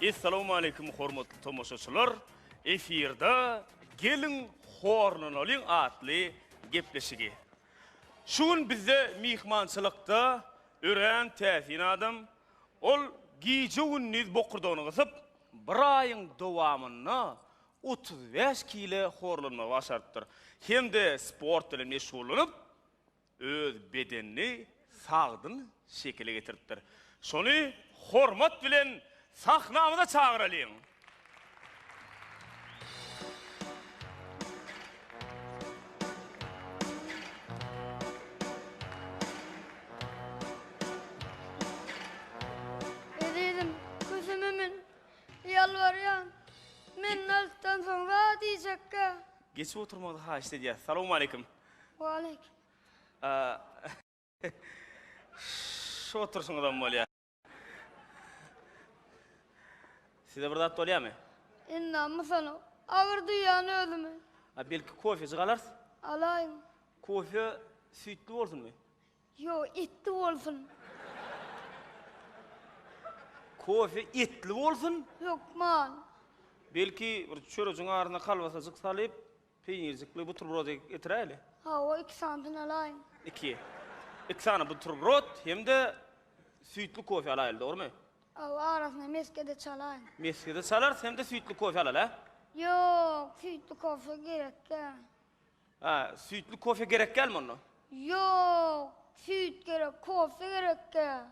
Essalawmaleýkim hormatly tomaşaçylar! Efirde Geliň horlanalyň atly gepleşigi. Şu gün bizde myhmançylykda örän täsin adam, ol gije-gündiz bokurdagyny gysyp, bir aýyň dowamynda otuz bäş kile horlanmagy başarypdyr hem-de sport bilen meşgullanyp, öz bedenini sagdyn şekile getiripdir. Şony hormat bilen sahnamyza çagyralyň! Ezizim, köşeme men Ýalbarýan, men naltdan soň zat iýjekkä. Geçip oturmagyňyzy haýyşt edýäs. Salowmaleýkim. Waleýkim. Şu oturşyňyzam bolýar. Size bir zat bolýamy? Indi-ä mysanok. Agyr duýýan özümi. A belki kofejik alarys? Alaýyň. Kofe süýtli bolsunmy? Ýo, etli bolsun. Kofe etli bolsun? Hökman. Belki, bir çörejiň arasyna kolbasajyk salyp, peýnirjikli buterbrod getiräýeli? Hawa, iki sanysyny alaýyn. Iki. Iki sany buterbrod hem-de süýtli kofe alaýyl, dogrumy? Hawa, arasyna mesge-de çalaýyn. Mesge-de çalarys hem-de süýtli kofe alal, hä? Ýok, süýtli kofe gerek däl. Hä, süýtli kofe gerek dälmi onda? Ýok, süýt gerek, kofe gerek däl.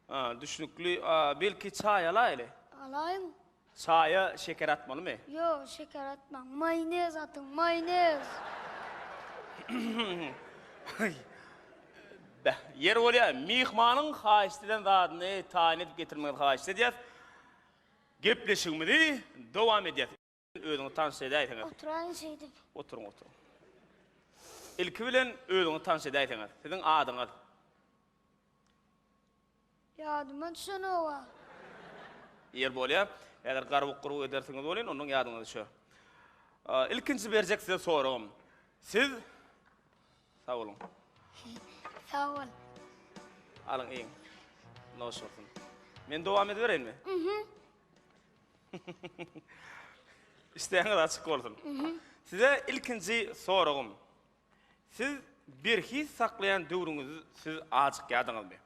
Hä, düşnükli. A, belki çaý alaýyly? Alaýyň. Çaýa şeker atmalymy? Ýok, şeker atmaň. Maýonez atyň, maýonez. Beh, ýeri bolýar, myhmanyň haýyşt eden zadyny taýyn edip getirmeginizi haýyşt edýäs. Gepleşigimizi dowam edýäs. Özüňi tanyş edäýseňiz. Oturaýyň şeýdip. Oturyň, oturyň. Ilki bilen özüňi tanyş edäýseňiz. Siziň adyňyz? Ýadyma düşenok-a. Ýer bolýar. Häzir garbuk-gurbuk edersiňiz welin, ondan ýadyňyza düşer. Ilkinji berjek size soragym. Siz Sag boluň. Sag bol. Alyň iýiň. Noş bolsun. Men dowam edibereýinmi? Mhm. Islegiňiz açyk bolsun. Size ilkinji soragym. Siz berhiz saklaýan döwrüňizi siz ajykýadyňyzmy?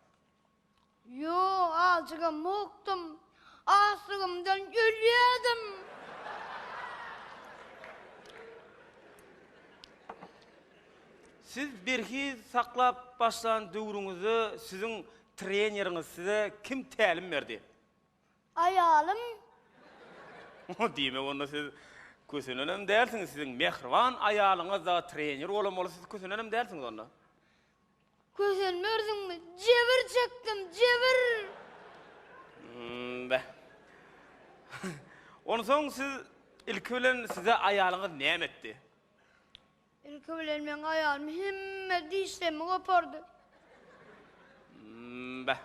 Ýok, ajygam mokdum. Açlygymdan ölýädim. Siz berhiz saklap başlan döwrüňizde siziň treneriňiz size kim tälim berdi? Aýalym. Oho, diýmek onda siz kösenenem dälsiňiz, siziň mähriban aýalyňyz dagy trener bolan bolsa siz kösenenem dälsiňiz onda. Kösenmersiňmi, jebir çekdim, jebir! Hum-da. Onsoň siz ilki bilen size aýalyňyz näme etdi? Ilki bilen meň aýalym hemme dişlerimi gopardy. Mmbäh.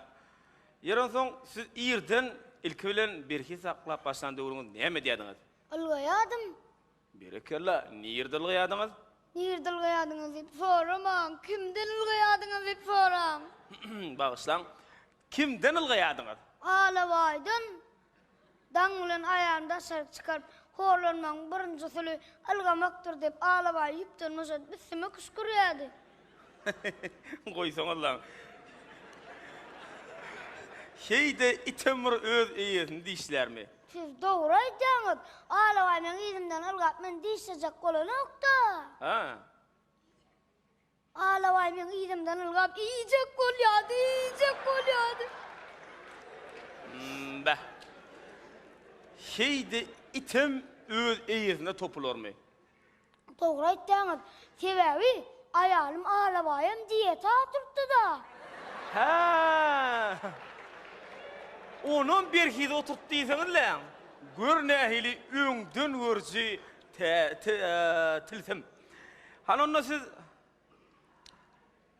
Ýeri onsoň siz irden, ilki bilen berhiz saklap başlan döwrüňiz näme edýärdiňiz? Ylgaýardym. Berekella. Nirde ylgaýardyňyz? Nirde ylgaýardyňyz diýip soramaň, kimden ylgaýardyňyz diýip soraň. Bagyşlaň. Kimden ylgaýardyňyz? Alabaýdan. Daň bilen aýagyny daşaryk çykaryp, horlanmagyň birinji usuly ylgamakdyr diýip, Alabaý ýüpden boşadyp, üstüme küşkürýärdi. Goýsaňyzlaň. Heý-de, item bir öz eýesini dişlärmi? Siz dogry aýdýaňyz. Alabaý meň yzymdan ylgap, meni dişlejek bolanok-da. Hä? Alabaý meň yzymdan ylgap iýjek bolýardy, iýjek bolýardy. Mmbäh. Şeýde item öz eýesine topularmy? Dogry aýtýaňyz. Sebäbi aýalym Alabaýam dieta oturtdy-da. Hä. Onam berhiz oturtdy diýseňiz-leň. Gör nähili öňdengörüji tä-tä-ä tilsim. Hany onda siz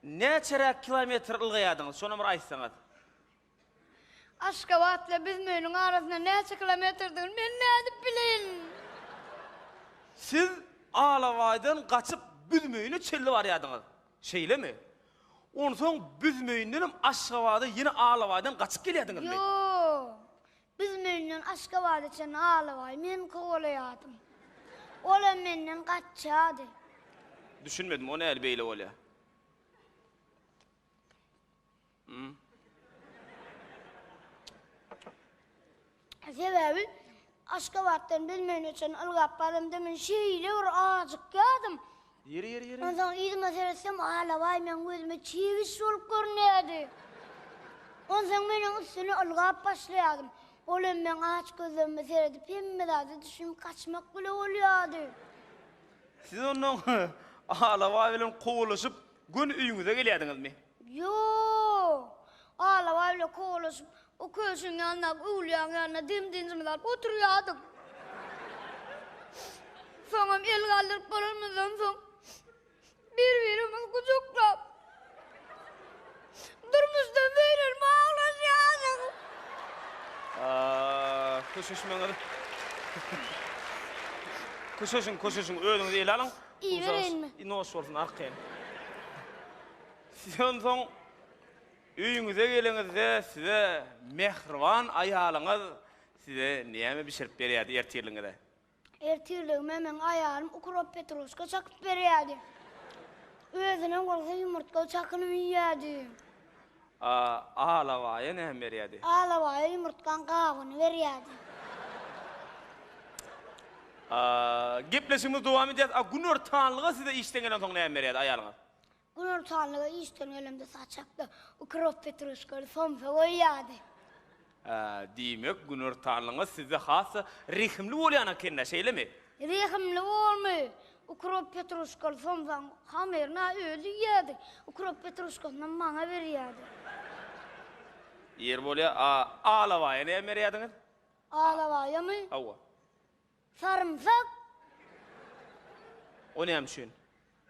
näçeräk kilometr ylgaýardyňyz, şonam bir aýtsaňyz? Aşgabat ile Büzmeniň arasynda näçe kilometrdigini men nädip bileýin? Siz Alabaýdan gaçyp Büzmeyine çenli barýardyňyz, şeýlemi? Onsoň Büzmeyindenem Aşgabada ýene Alabaýdan gaçyp gelýärdiňizmi? Ýok. Büzmeýinden Aşgabada çenli Alabaýy men kowalaýardym. Olam menden gaçýardy. Düşünmedim, o näli beýle bolýa? Hum. Sebäbi Aşgabatdan Büzmeýine çenli ylgap baramda men şeýle bir ajykýardym, Onsoň yzyma seretsem, Alabaý meň gözüme çebiş bolup görünýärdi. Onsoň men oň üstüne ylgap başlaýardym. Ol hem meň aç gözlerime seredip, hemme zada düşünip gaçmak bile bolýardy. Siz onsoň Alabaý bilen kowalaşyp, göni öýüňize gelýärdiňizmi? Ýok. Alabaý bilen kowalaşyp, O köşgüň ýanyndaky öwlüýäň ýanynda dem-dynjymyzy alyp oturýardyk. Soňam el galdyryp bolanymyzdan soň, bir-birimizi gujaklap, durmuşdan beýlel waglaşýardyk. Köşeşmeňiz. Köşeşiň, köşeşiň, özüňizi ele alyň. Iýibereýinmi? Noş bolsun, arkaýyn. Siz onsoň. Öýüňize geleňizde size mähriban aýalyňyz size näme bişirip berýärdi ertirligiňize? Ertirligime meň aýalym ukrop petroşka çakyp berýärdi. Özünem bolsa ýumurtga çakynyp iýýärdim. A alabaýa näme berýärdi? Alabaýa ýumurtgaň gabyny berýärdi. A gepleşigimizi dowam edýäris. A günortanlyga size işden gelensoň näme berýärdi aýalyňyz? Günortanlyga işden gelemde saçakda ukrop petruşkaly somsa goýýardy. Hä, diýmek, günortanlygyňyz sizde has-da rehimli bolýan eken-dä, şeýlemi? Rehimli bolmy? Ukrop petruşkaly somsaň hamyryny-a özi iýýärdi, ukrop petruşkasynam maňa berýärdi. Ýeri bolýar, a Alabaýa näme berýärdiňiz? Alabaýamy? Hawa. Sarymsak. O näme üçin?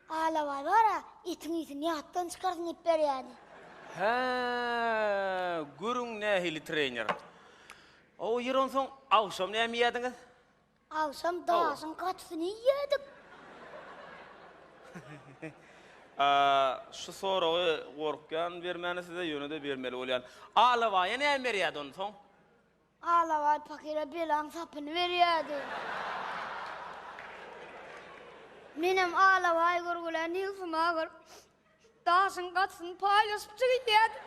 Alabaý bar-a, etiň ýüzüni ýatdan çykarsyn diýip berýärdi. Hä, görüň nähili trener. O ýer onsoň agşam näme iýýärdiňiz? Agşam daşyň gatysyny iýýärdik. A, şu soragy gorkýan bermäne size, ýöne-de bermeli bolýan. Alabaýa näme berýärdi onsoň? Alabaý pakyra belaň sapyny berýärdi. Menem alabaý görgülän ýygsyma agyryp, daşyň gatysyny paýlaşyp çigildýärdim.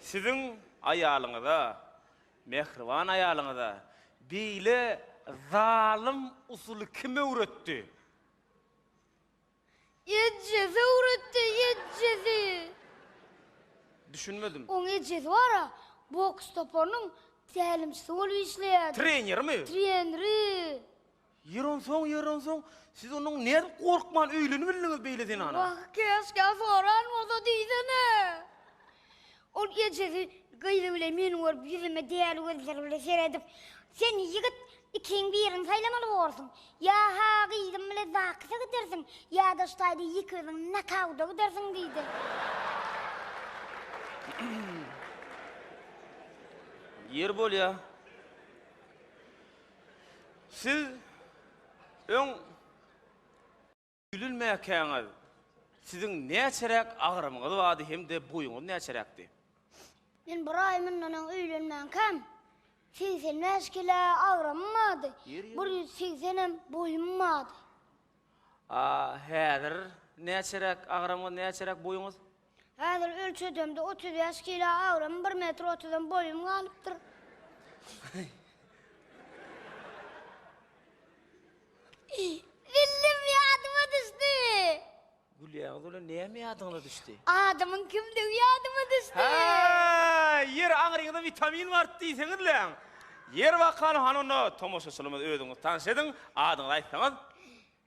Siziň aýalyňyza, mähriban aýalyňyza beýle zalym usuly kim öwretdi? Eje söwretde ejesi. Düşünmedim. Oň ejesi bar-a, boks toparynyň tälimçisi bolup işleýärdi. Trenermi? Treneri. Ýer onsoň, ýer onsoň, siz onuň nädip gorkman öýlenibildiňiz beýle zenana? Wah, käşgä soran bolsa diýsene. Ol ejesi gyzy bilen meni görüp, ýüzüme däli gözleri bilen seredip, Sen, ýigit, ikiň birini saýlamaly borsuň. Ýa ha gyzym bilen ZAKS-a gidersiň, ýa daş taýda ýeke özüň nokauda gidersiň diýdi. Ýeri bolýa, siz öň. Ýülünmäkäňiz siziň näçeräk agramyňyz bardy hem-de boýuňyz näçeräkdi? Men bir aý mundan öň öýlenmänkäm, segsen bäş kile agramym bardy, bir ýüz segsen hem boýum bardy. A häzir näçeräk agramyňyz, näçeräk boýuňyz? Häzir ölçedemde otuz bäş kilo agramym, bir metr otuzam boýum galypdyr. Zillim ýadyma düşdi. Gülýäňiz welin näme ýadyňyza düşdi? Adamyň kimdigi ýadyma düşdi. Häý, ýeri aňryňyza witamin barypdy diýseňizläň. Ýeri bakalym hany onda tomaşaçylymyzy özüňizi tanyş ediň, adyňyzy aýtsaňyz.